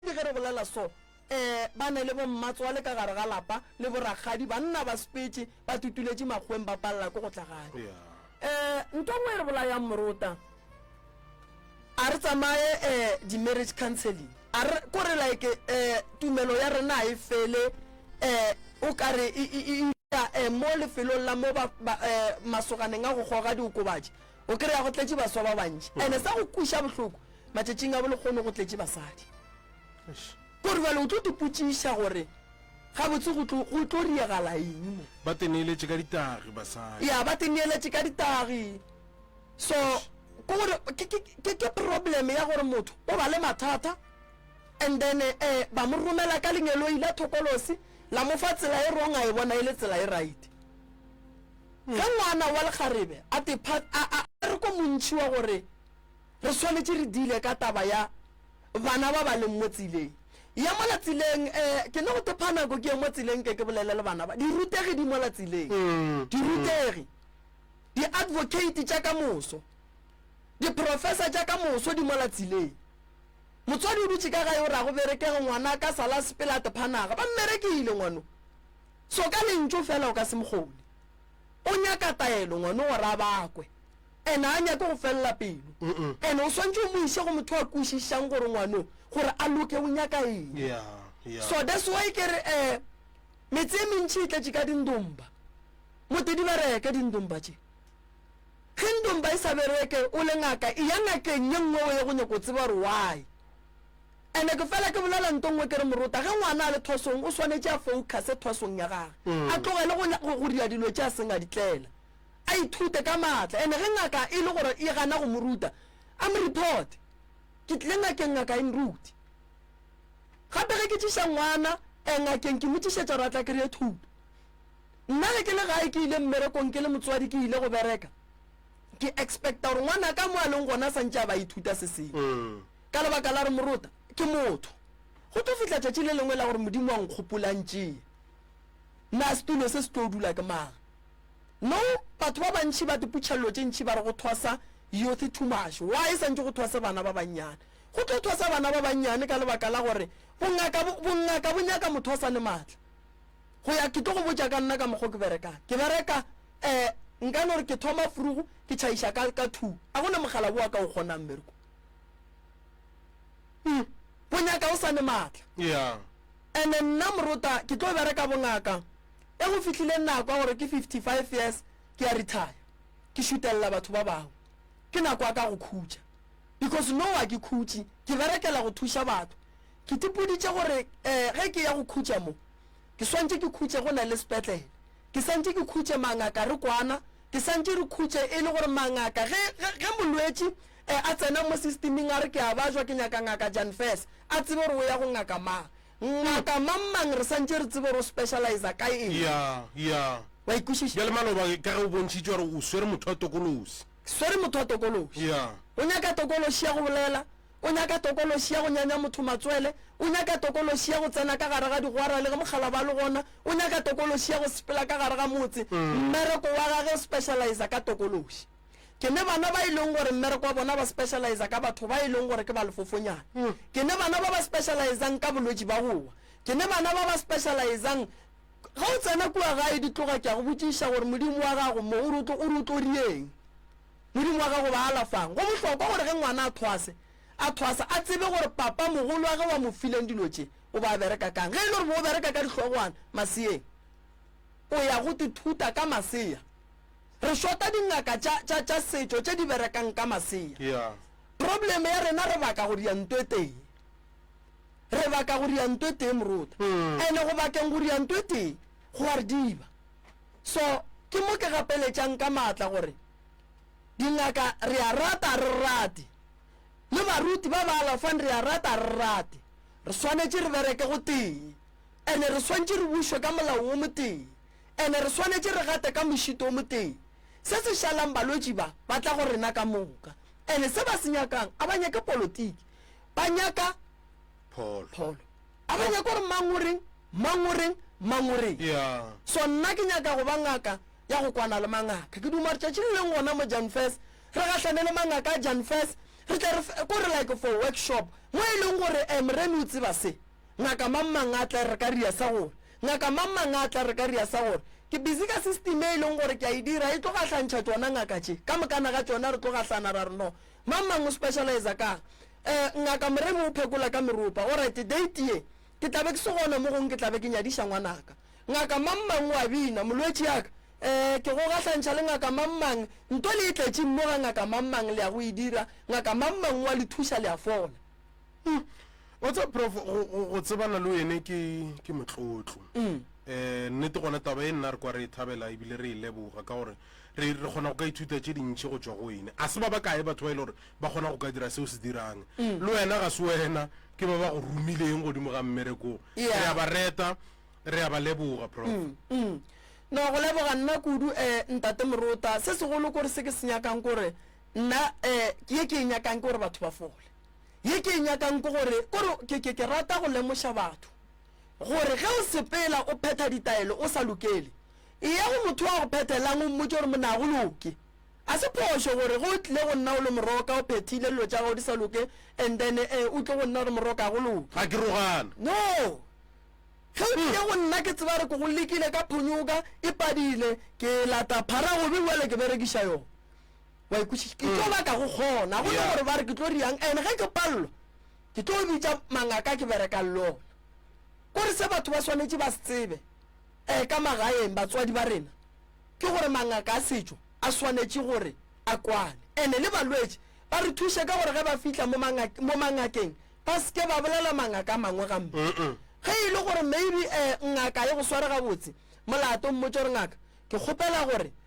Le ge re bolela so, ee, ba ne le bommatswale ka gare ga lapa le borakgadi, banna ba sepetše, ba tutuletše makgoweng ba palela ko go tla gae. Ee, ntwa nngwe e re bolayang morota. A re tsamaye ee, di-marriage counselling. A re, ko re like ee, tumelo ya rena ga e fele ee, o ka re e, e, e, e, ee, mo lefelong la mo ba, ba, ee, masoganeng a go goga diokobatši, O kry-a go tletše baswa ba bantši ande sa go kweša bohloko matšatšing a bolekgono go tletše basadi kore bale o tlo tepotšiša gore gabotse go tlo riegala eng mo ba teneeletše ka ditagi basadi ya ba teneeletše ka ditagi so ke gore ke problem ya gore motho o ba le mathata and then um ba mo romela ka lengeloi la thokolosi la mo fa tsela e wrong a e bona e le tsela e right Ge ngwana wa lekgarebe a te pha, a, a, a re ko montši wa gore re swanetše re dile ka taba ya bana ba ba leng mo tseleng. Ya mola tseleng, e, ke no go te pha nako ke ye mo tseleng ke ke bolele le bana ba. Dirutegi di mola tseleng. Dirutegi. Di-advocate tša ka moso. Di-professor tša ka moso di mola tseleng. Motswadi o dutše ka gae o re a go berekege ngwana ka sala sepela a te pha naga. Ba mmerekile ngwano. So ka lentšu fela o ka se mo kgone. O nyaka taelo ngwano gore a bakwe. And a nyake go felela pelo. And o swantše o mo iše go motho a kwešišang gore ngwano gore a loke o nyaka eng. Yeah, yeah. So that's why ke re eh metse e mentši e tletše ka dindomba. Mote di bereke dindomba tše. Ge ndomba e sa bereke o le ngaka e ya ngakeng ye nngwe o ye go nyaka go tseba gore why. Ene ke fela ke bolela nto nngwe ke re morota ge ngwana a le thwasong o swanetše a focuse thwasong ya gage, a tlogele go, go, go dira dilo tše a seng a di tlela. A ithute ka maatla. Ene ge ngaka e le gore e gana go mo ruta, a mo reporte. Ke tlile ngakeng ngaka e nrute. Gape ge ke tšiša ngwana eh, ngakeng ke mo tšišetša gore a tla kry-e thuto. Nna ge ke le gae ke ile mmerekong ke le motswadi ke ile go bereka, ke expecta gore ngwanaka mo a leng gona a sa ntše a ba a ithuta se sengwe. Ka lebaka la re morota ke motho, go tlo fihla tšatši le lengwe la gore Modimo wa nkgopolantšee. Na setulo se se tlo dula ke mang? No, batho ba bantši ba diputšhello tše ntši ba re go thwasa youth too much. Why santše go thwase bana ba bannyane? Go tlo thwasa bana ba bannyane ka lebaka la gore bongaka, bongaka bo nyaka motho a sa ne matla. Go ya ke tlo go botša ka nna ka mokgwa ke berekang. Ke bereka eh nka no re ke thoma frugu ke tšhaiša ka ka two. A go na mogala boa ka o kgonang mmereko. Hmm. Go nyaka o sa ne matla. Yeah. Ene nna morota ke tlo bereka bongaka e go fihlile nako ya gore ke 55 years ke ya retire ke šutelela batho ba bangwe ke nako ya ka go khutša because no wa ke khutše ke berekela go thuša batho ke tipoditše gore um ge ke ya go khutša mo ke swantše ke khutše go na le sepetlele ke santše ke khutše mangaka re kwana ke santše re khutše e le gore mangaka ge molwetši A tsena mo sistiming a re ke a bajwa ke nyaka Ngaka Jan Fess, a tsebe gore o ya go ngaka mang. Ngaka mang-mang re santše re tsebe gore o specializa ka eng. Ya, ya. Wa ikwešiša? Bjale maloba ka ge o bontšhitše gore o swere motho wa tokološi. Swere motho wa tokološi. Ya. O nyaka tokološi ya go bolela, o nyaka tokološi ya go nyanya motho matswele, o nyaka tokološi ya go tsena ka gare ga digwara le ge mokgalaba a le gona, o nyaka tokološi ya go sepela ka gare ga motse. Mmereko wa gage o specializa ka tokološi. ke ne bana ba e leng gore mmereko wa bona ba specializa ka batho ba e leng gore ke ba lefofonyana mm. ke ne bana ba ba specializang ka bolwetši ba gowa ke ne bana ba ba specializang ga o tsena kua gae di tloga ke a go botšiša gore modimo wa gago mo o re o tlo rieng modimo wa gago ba alafang go bohlokwa gore ge ngwana a thwase a thwasa a tsebe gore papa mogolo wa ge wa mo fileng dilo tše o ba bereka kang ge e le gore bo o bereka ka dihlogwana maseyeng o ya go tithuta ka maseya Re šota dingaka tša, tša, tša setšo tše di berekang ka masea. Yeah. Problem ya rena re baka go dia nto e tee. Re baka go dia nto e tee, Moruta. Ene go bakeng go dia nto e tee, go a re diba. So, ke mo ke gapeletšang ka maatla gore, dingaka re a rata ga re rate, le baruti ba ba alafang re a rata ga re rate, re swanetše re bereke gotee. Ene re swantše re bušwe ka molao wo motee. and re swanetše re gate ka mošito o motee. Se se šalang balwetši ba ba tla go rena ka moka and se ba se nyakang a ba nyake polotiki, ba nyaka pholo. A ba nyake gore mang o reng, mang o reng, mang o reng. So nna ke nyaka go ba ngaka ya go kwana le mangaka. Ke duma gore tšatši le leng gona mo Janfes re gahlane le mangaka a Janfes re tle re fe, ko re like for workshop mo e leng gore, eh, Moremi o tseba se. Ngaka mang mang a tla re ka ria sa gore, ngaka mang mang a tla re ka ria sa gore, ke busy ka system e e leng gore ke a e dira, e tlo gahlantšha tšona ngaka tše, ka mokana ga tšona re tlo gahlana, ra re no, mang mang o specializer ka'ng? Eh, ngaka Moremi o phekola ka meropa, alright, date ye ke tla be ke se gona mo gong ke tla be ke nyadiša ngwanaka. Ngaka mang mang o a bina, molwetši yaka, eh, ke go gahlantšha le ngaka mang mang, nto le e tletšeng mo ga ngaka mang mang, le ya go e dira, ngaka mang mang o a le thuša, le a fola. Hmm. wa tseba prof go- go go tsebana le wene ke ke motlotlo um nnete gona taba e nna re kwa re e thabela ebile re e leboga ka gore re re kgona go ka ithuta tše dintšhi go tswa go wene a se ba ba kae batho ba e le gore ba kgona go ka dira seo se dirang le wena ga se wena ke ba ba go romileng godimo ga mmerekong Yeah. re a ba reta re a ba leboga prof Mm. no go leboga nna kudu um ntate morota se segolo kore se ke se nyakang kore nna um ke ye ke e nyakang ke gore batho ba fole ye ke e nyakang ke gore kore ke ke ke rata go lemoša batho gore ge o sepela o phetha ditaelo o sa lokele e ya go motho wa go phethelang o mmotse gore mona go loke a se phošo gore ge o tlile go nna o le moroka o phethile dilo tša gago di sa loke and then eh, o tle go nna gore moroka go loke ga ke rogana no ge o tlile go nna ke tseba re ko go lekile ka phonyoka e padile ke lata phara gobe bjale ke berekiša yone wa ikwešiša ke tlo baka go kgona go le gore ba re ke tlo riang and ge ke palelwa ke tlo bitša mangaka ke berekang le ona kore se batho ba swanetše ba se tsebe um ka magaeng batswadi ba rena ke gore mangaka a setšo a swanetše gore a kwane and le balwetši ba re thuše ka gore ge ba fitlha mo mangakeng ba seke ba bolela mangaka mangwe gampe ge e le gore maybe um ngaka e go sware gabotse molato mmotse gore ngaka ke kgopela gore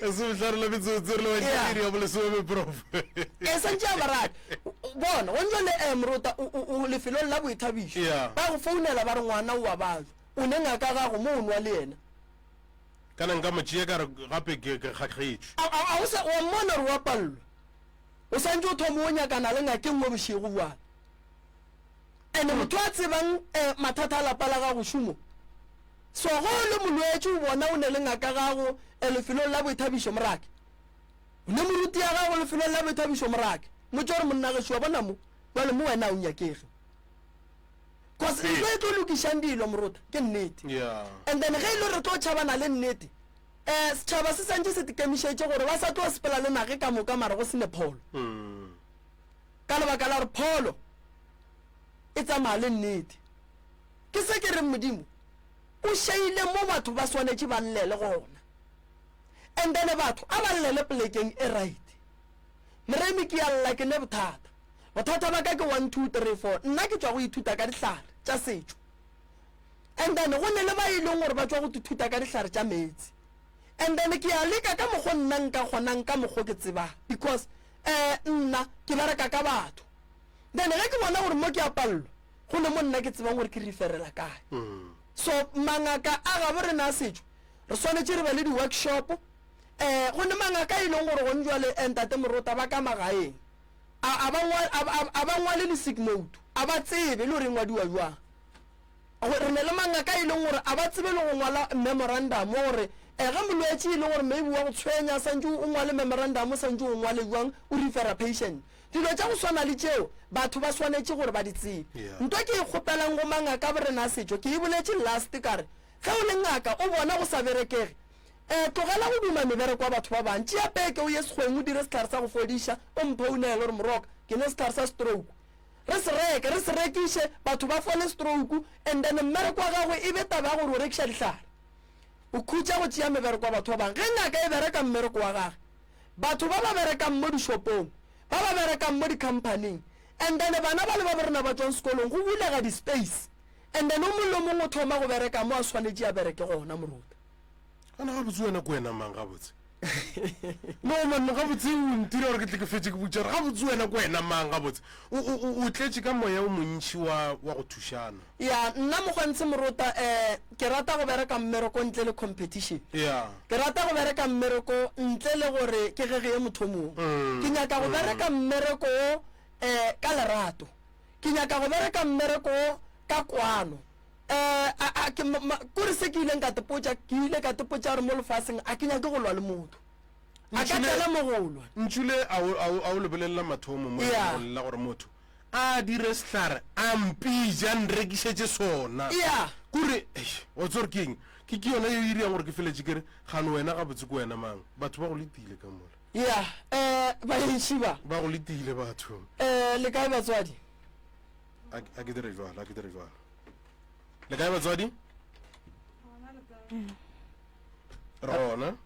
e se bohlare la metsotso re le baširi ya bolesome prof e santše a baradi bona go ntšo le um eh, morota o lefelong la boithabišo ba go founela ba re ngwana o wa batho o ne ngaka gago mo o nwa le yena kana nka mo tšea ka gape ke kgakgetšwe a o sa wa mmona gore wa palelwa o santše o thoma o nyakana le ngakeng mo bošego bjale Ene motho a tsebang eh, mathata a lapa la gago šomo. So ge o le molwetši o bona o ne le ngaka gago eh, lefelong la boithabišo morake. O ne moruti ya gago lefelong la boithabišo morake. Motse gore monna ge šua bona mo, bjale mo wena o nyakege. Cause ntho e tlo lokišang dilo morota ke nnete. Yeah. And then ge e le re tlo tšhabana le nnete, eh setšhaba se santše se tekemišetše gore ba sa tlo sepela le nage ka moka mara go sene pholo. Mm. ka lebaka la gore pholo e tsamaya le nnete. Ke se ke reng Modimo o šeile mo batho ba swanetše ba llele gona. And then batho a ba llele polekeng e right. Moremi ke ya lla ke ne bothata. Bothata ba ka ke one two three four. Nna ke tšwa go ithuta ka dihlare tša setšo. And then go ne le ba e leng gore ba tšwa go ithuta ka dihlare tša meetse. And then ke ya leka ka mokgo nna nka kgonang ka mokgo ke tsebang because eh, nna ke bereka ka batho then ge ke bona gore mo ke a palelwa go ne mo nna ke tsebang gore ke referela kae mm. so mangaka a gabo re na setšo re swanetse re be le di-workshop um eh, go ne mangaka e leng gore gone jale eh, ntate morota ba ka magaeng a ba ngwale le sick note a ba tsebe le gore e ngwadiwa jwang Re ne le mangaka a e leng gore a ba tsebe le go ngwala memorandamo gore ge molwetši e le gore maybe wa go tshwenya santše o ngwale memorandamo santše o ngwale bjang o refera patient. Dilo tša go swana le tšeo batho ba swanetše gore ba di tsebe. Nto ke e kgopelang go mangaka a borena a setšo ke e boletše last ka re ge o le ngaka o bona go sa berekege eh tlogela go duma mebereko ya batho ba bang tšea peke o ye sekgweng o dire sehlare sa go fodiša o mphounele gore moroka ke nwe sehlare sa stroke Re se reke, re se rekiše, batho ba fole strouku, and then mmereko wa gagwe e be taba ya gore o rekiša dihlare. O khutša go tšea mebereko ya batho ba bangwe. Ge ngaka e bereka mmereko wa gage, batho ba ba berekang mo dishopong, ba ba berekang mo dikhamphaning, and then bana bale ba bo rena ba tšwang sekolong, go bulega di-space, and then o mongwe le o mongwe o thoma go bereka mo a swanetše a bereke gona, moruta. gana gabotse wena ke wena mang gabotse no manno gabotse o ntira gore ke tle ke fetse ke butšare gabotse wena ke wena mang gabotse o tletše ka moya o montšhi wa go thušana ya nna mokgontshe morota um ke rata go bereka mmereko ntle le competition ya ke rata go bereka mmereko ntle le gore ke ge ge ye motho mongwe mm, ke nyaka go mm. bereka mmereko um ka lerato ke nyaka go bereka mmereko ka kwano kore se ke ileng ka tepotša ke ile ka tepotša gore mo lefaseng a ke nyake go lwa le motho a ka tlela mo go lwa ntšhule a o lebelelela mathomo mo go lela gore motho a dire sehlare a mpija nrekišetše sona kore o tsore ke eng ke ke yona yo e iriyang gore ke feletše kere gano wena ga botse ko wena mang batho ba go letile ka mola ya um eh, baešhiba ba go letile batho um eh, le kae batswadi a ke dire jwalo a ke dire jwalo le kae batswadi rona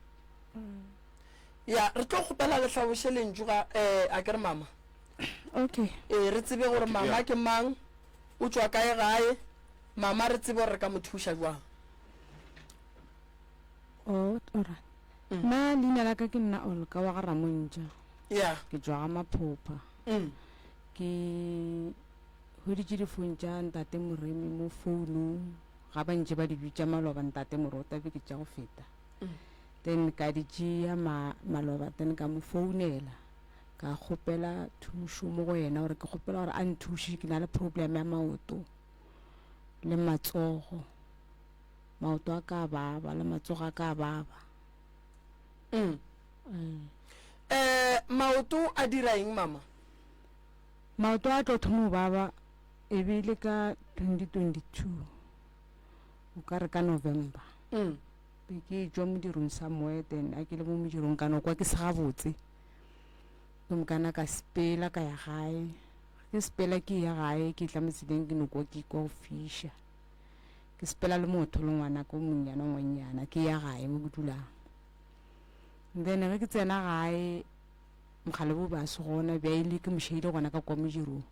ya re tlo kgopela le tlhaboše lentšu ga um a ke re mama okay ee re tsebe gore mama ke mang o tswa kae gae mama re tsebe gore re ka mo thuša jwang o ora nna leina la ka ke nna olka wa ga ramontša ya ke tswa ga maphopha mm. ke hweditše difone tša ntate moremi mo founung ga ba ntše ba di bitša maloba ntate morota be ke tša go feta mm. then ka di tšea ma, maloba then ka mo founela ka kgopela thušo mo go yena gore ke kgopela gore a nthuše ke na le problem ya maoto le matsogo maoto a ka baba le matsogo a ka baba mm. Um maoto a dira eng mama? Maoto a tlo thomo baba e be le ka 2022 o ka re ka November mm. be ke tšwa modirong somewhere then a ke le mo modirong ka no kwa ke se gabotse ke mokana ka sepela ka ya gae ke sepela ke ya gae ke tla motseleng ke no kwa ke kwa go fisha ke sepela le motho le ngwana ko monnyana ngwannyana ke ya gae mo ke dulang then ge ke tsena gae mokgale bo base gona bja ile ke mošeile gona ka kwa modirong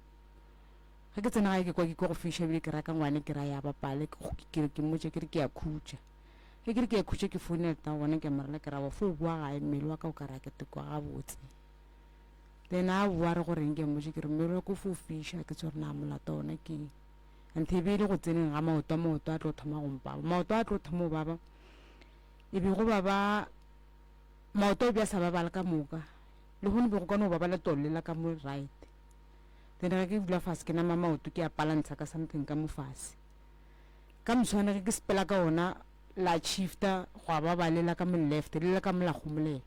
ge ke tsena gae ke kwa ke kwa go fiša bile ke raka ngwane ke ra ya bapale kere ke mmotse ke re ke ya khutša ge ke re ke ya khutša ke founela ta gona ke morela ke ra wa fo boa gae mmele wa ka o ka ra ke tekwa gabotse then a boa re goreng ke mmotse ke re mmele wa ko fo fiša ke tsore na molato ona keng anthe e be e le go tseneng ga maoto maoto a tlo thoma go mpaba maoto a tlo thoma go baba e bego ba ba maoto bja sa babala ka moka le go ne be go ka no ba ba le tolle la ka mo right then ga ke dula fase ke nama maoto ke a palantsha ka something ka mo fase ka moswane ge ke sepela ka ona la chifta go a babalela ka mo left le le ka mo la gomolela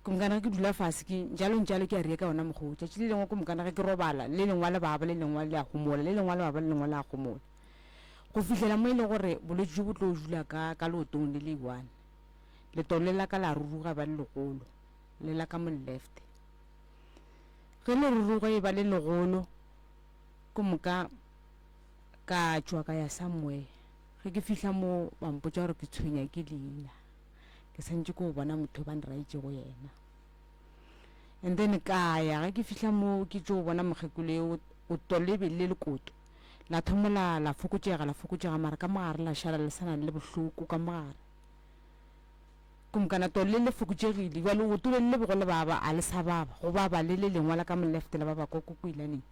komkana ge ke dula fase ke jalo njalo ke a rie ka ona mogoja tšile lengwe komkana ge ke robala le lengwa le baba le lengwa le a gomola le lengwa le baba le lengwa le a gomola go fihlela mo e le gore bolwetši jo bo tlo jula ka ka leotong le le one letolo le la ka la ruruga ba le legolo le la ka mo left ge le ruruga e ba le legolo ko moka ka tšwa ka ya somewhere ge ke fihla mo ba mpotsa gore ke tshwenya ke leina ke santse ko bona motho ba nraitse go yena and then ka ya ge ke fihla mo ke tšo bona mokgekolo o tolebe le lekoto La thomo la, la fokotšega, la fokotšega, mara ka mogare la šala le sana le bohloko ka mogare. Kumkana to le le fokotšegile, jwa leoto le le bego le baba, a le sa baba, go baba le le lengwa la ka molefte la baba kwa kokoilaneng.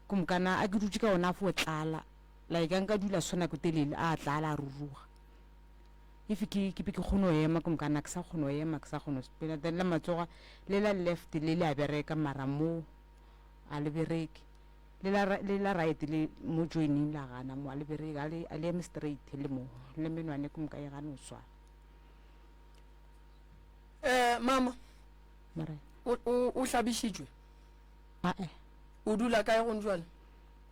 Kumkana a ke dutše ka ona a fo tlala, la e ka nka dula swana ko telele, a tlala a ruruga. If ke ke be ke kgone go ema kumkana ke sa kgone go ema ke sa kgone spela then la matsoga le la left le le a bereka mara mo a le bereke Le la, le la right le mo joining la gana mo a le bereke a le, a le eme straight le mo le menwane ko moka e gane o swana. Eh mama Mare o, o, o hlabišitšwe? a e O dula kae gone jwale?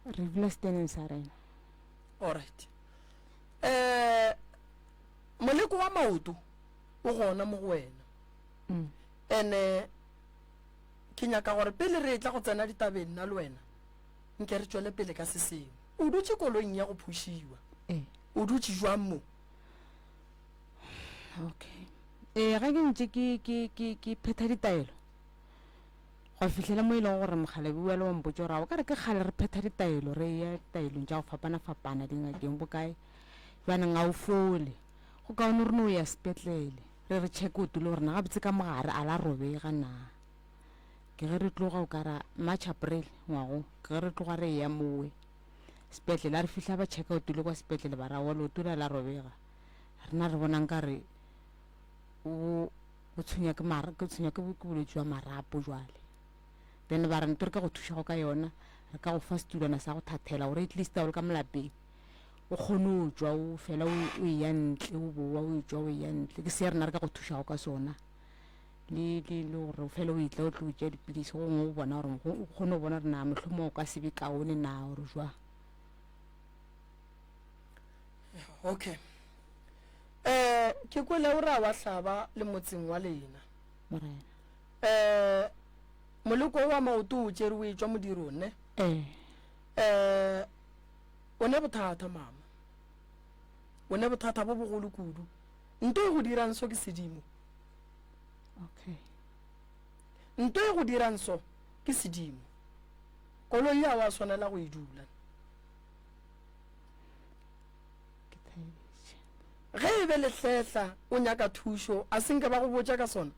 re dula steneng sa rena. Alright. Eh moleko wa maoto o gona mo go wena. Mm. Ene Ke nyaka gore pele re etla go tsena ditabeng nna le wena, nke re tšwele pele ka se sengwe. O dutše koloing ya go phušiwa. Ee. O dutše jwang mo? Okay. Ee, ge ke ntše ke, ke, ke, ke phetha ditaelo, gwa fihlela mo e lego gore mokgalabi wa le wa mpotša gore a o ka re ke kgale re phetha ditaelo, re ya ditaelong tša go fapana-fapana, dingakeng, bokae. Bjaneng a o fole. Go kaone re no ya sepetlele. Re re check o tule gore na gabotse ka mogare a la robega na. Ke ge re tloga o kara March April ngwago ke ge re tloga re ya mowe sepetlele re fihla ba check o tule kwa sepetlele ba ra walo tula la robega. Rena re bonang ka re o o tshwenya ke mara ke tshwenya ke ke bolwetse jwa marapo jwale. Then ba re nto re ka go thuša go ka yona re ka go fa setulwana sa go thathela gore at least o le ka molapeng. o kgone o tšwa o fela o o eya ntle o bowa o tšwa o eya ntle ke se rena re ka go thušago ka sona le le le gore o fela o etla o tlo tšea dipilisi go gongwe o bona gore o kgone go bona gore na mohlomong o ka sebe kaone na gore jwa okay um ke kwele o ra wa hlaba le motseng wa lena morena um moleko wa maoto o tšere o e tšwa modirong ne ee um O ne bothata, mama. O ne bothata bo bogolo kudu. Nto e go dirang so ke sedimo. Okay. Nto e go dirang so ke sedimo. Koloi ya wa swanela go e dula. Ge e be lehletla o nyaka thušo, a se nke ba go botša ka sona?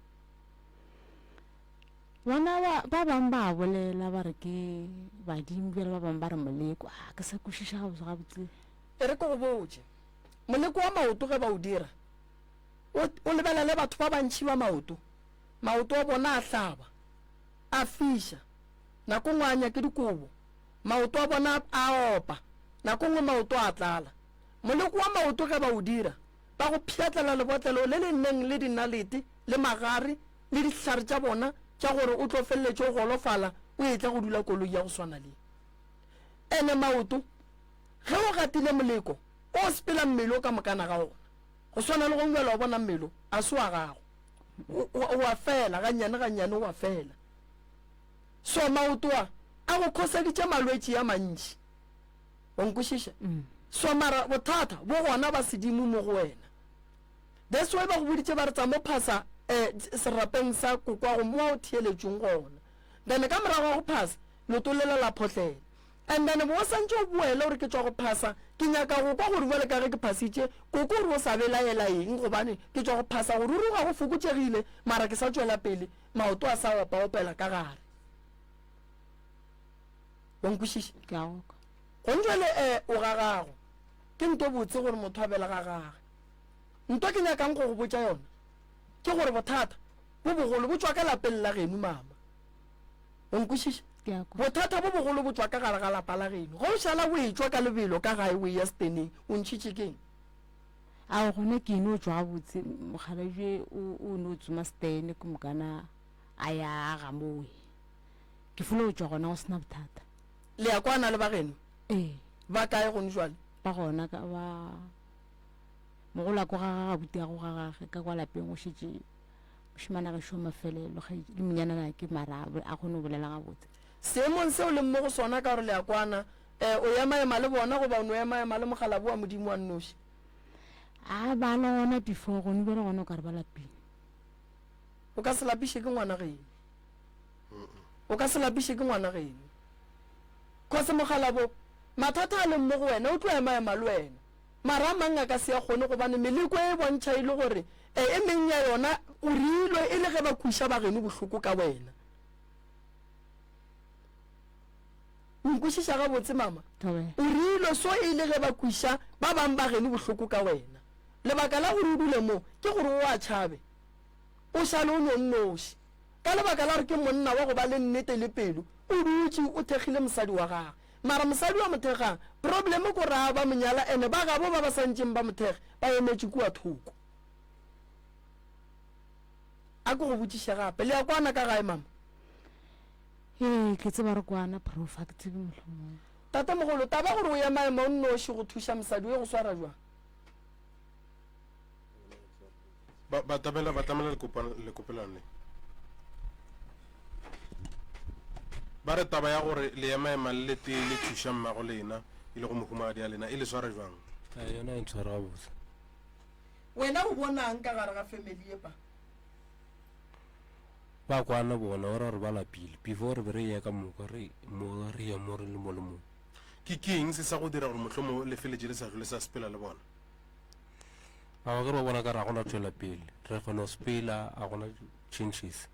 Bona ba, ba bang ba a bolela ba re ke badimo bjale ba bang ba re moleko. A ah, ke sa kwešiša gabotse gabotse. E re ke go botše, moleko wa maoto ge ba o dira, o, o lebelele batho ba bantši ba maoto, maoto a bona a hlaba, a fiša, nako ngwe a nya ke dikobo, maoto a bona a opa, nako ngwe maoto a tlala. Moleko wa maoto ge ba o dira, ba go pšhatlela lebotlelo le le neng le dinalete le magare le dihlare tša bona tša gore o tlo feleletše o golofala o etla go dula koloi ya go swana le ene maoto ge o gatile moleko o sepela mmele o ka mokana ga ona go swana le go ngwela wa bona mmele a se wa gago wa fela gannyane gannyane wa fela so maoto a a go khoseditše malwetši ya mantši o nkwešiša mm. so mara bothata bo gona ba sedimo mo go wena That's why ba go boditše ba re tsa mo phasa eh, serapeng sa kokwago mo wa o theeletšong gona. Then ka morago ga go phasa, leoto lela la photlela. And then bo o santše o boele gore ke tšwa go phasa, ke nyaka go kwa gore bjale ka ge ke phasitše, koko gore o sa belaela eng gobane ke tšwa go phasa go ruruga go fokotšegile mara ke sa tšwela pele, maoto a sa opa-opela ka gare. Wa nkwešiša? Ke a go kwa. Gone jwale eh, o gagago. Ke nto botse gore motho a belega gage. Ntwa ke nyakang go go botša yona ke gore bothata bo bogolo bo tšwa ka lapeng la genu, mama. O nkwešiša? Ke a kwa. Bothata bo bogolo bo tšwa ka gare ga lapa la genu. Ge o šala o e-tšwa ka lebelo ka gae o e-ya seteneng, o ntšhitše ke eng? Ao, gona ke e no tšwa gabotse. Mokgalabje o, o no tsoma setene ke moka na a ya a ga mowe. Ke folo go tšwa gona go se na bothata. Le ya kwana le ba genu? Ee. Ba kae gone jwale? Ba gona ka ba. Mogolwako ga ga gabutiago ga gage ka kwa lapeng go šetše mošemana gešo mafelelo le monyanana ke mara a kgone go bolela gabotse seemong seo leng mo go sona ka gore le ya kwana um o emaema le bona goba o no emaema le mogalabo wa modimo wa nnoši a ba le gona before gone bjale gona o ka re ba lapile o ka se lapiše ke ngwana geno O ka se lapiše ke ngwana geno. Kgosi Mokgalabo, mathata a leng mo go wena o tlo emaema le wena. Mara a mang a ka se a kgone gobane meleko e e bontšha e le gore e e meng ya yona o reilwe e le ge ba kweša ba geno bohloko ka wena. O nkwešiša gabotse mama? O reilwe so e le ge ba kweša ba bang ba geno bohloko ka wena. Lebaka la gore o dule mo ke gore o a tšhabe. O šale o no nnoši. Ka lebaka la gore ke monna wa go ba le nnete le pelo, o dutše o thekgile mosadi wa gagwe. Mara mosadi wa mo thekgang, problem ko raa ba mo nyala ene ba gabo ba ba sa ntšeng ba mo thekge ba emetše kua thoko. A ke go botšiše gape, le ya kwana ka gae mama? Ee, ke tseba re kwana prof, ga ke tsebe mohlomong. Tatemogolo, taba gore o ya maemo o nnoši go thuša mosadi o e go swara jwang? ba batabela batamela lekopelwane le ba re taba ya gore le emaema le le tee le thuša mmago lena e le go mohumagadi ya lena e le swara jwang yona e ntshwara gabotse wena o bonang ka gare ga family epa ba kwana bona o ra gore ba lapile before re be re ye ka moka re mo re ye mo re le mo le mo ke keng se sa go dira gore motlhomo le feletse le sa tlole sa sepela le bona Mara ke re ba bona ka ra gona tšwela pele. Re kgona spela a gona changes.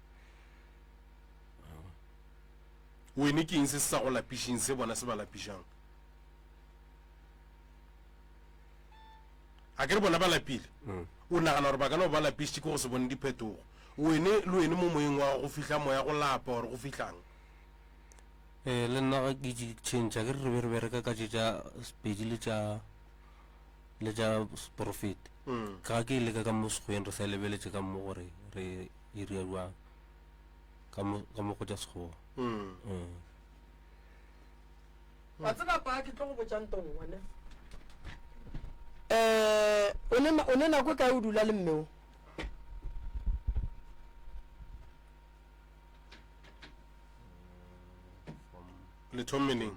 Wene ke eng se sa go lapišeng se bona se ba lapišang? A ke re bona ba lapile. Mm. O nagana gore ba kana ba lapišitše ke go se bone diphetogo. Wene le wene mo moyeng wa go fihla moya go lapa gore go fihlang. Eh le nna ga ke change ke re re be re bereka ka tše tša spedi le tša le tša seporofeti mm. ga ke leka ka mo sekgweng re sa lebeletše ka mo gore re iria jwang ka mo go tša sekgowa mm. mm. a tseba pa ke tlo go botšang tong one um o ne nako e kae o dula le mmeo le thommeneng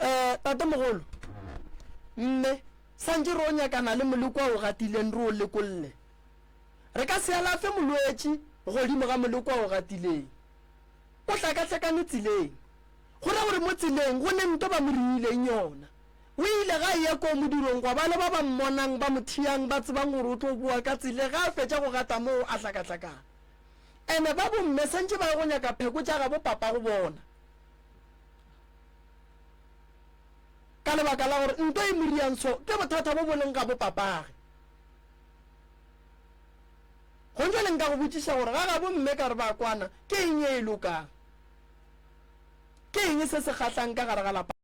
Eh, tatemogolo, mme, santše re o nyakana le molekwa o gatileng re o lekolle. Re ka se alafe molwetši godimo ga molekwa o gatileng. O hlakahlakane tseleng. Go ra gore mo tseleng go ne nto ba mo riileng yona. O ile ga eya koo modirong gwa ba le ba ba mmonang ba mo thiyang ba tsebang gore o tlo boa ka tsele ga a fetša go gata moo a hlakahlakana. Ene ba bomme santše ba ye go nyaka pheko tša gabo papa go bona. ka lebaka la gore nto e moriantsho ke bothata bo boleng ga bopapage. Gontse le nka go botšiša gore ga gabo mme ka re ba kwana ke eng e e lokang? Ke eng se se kgahlang ka gare ga lapa?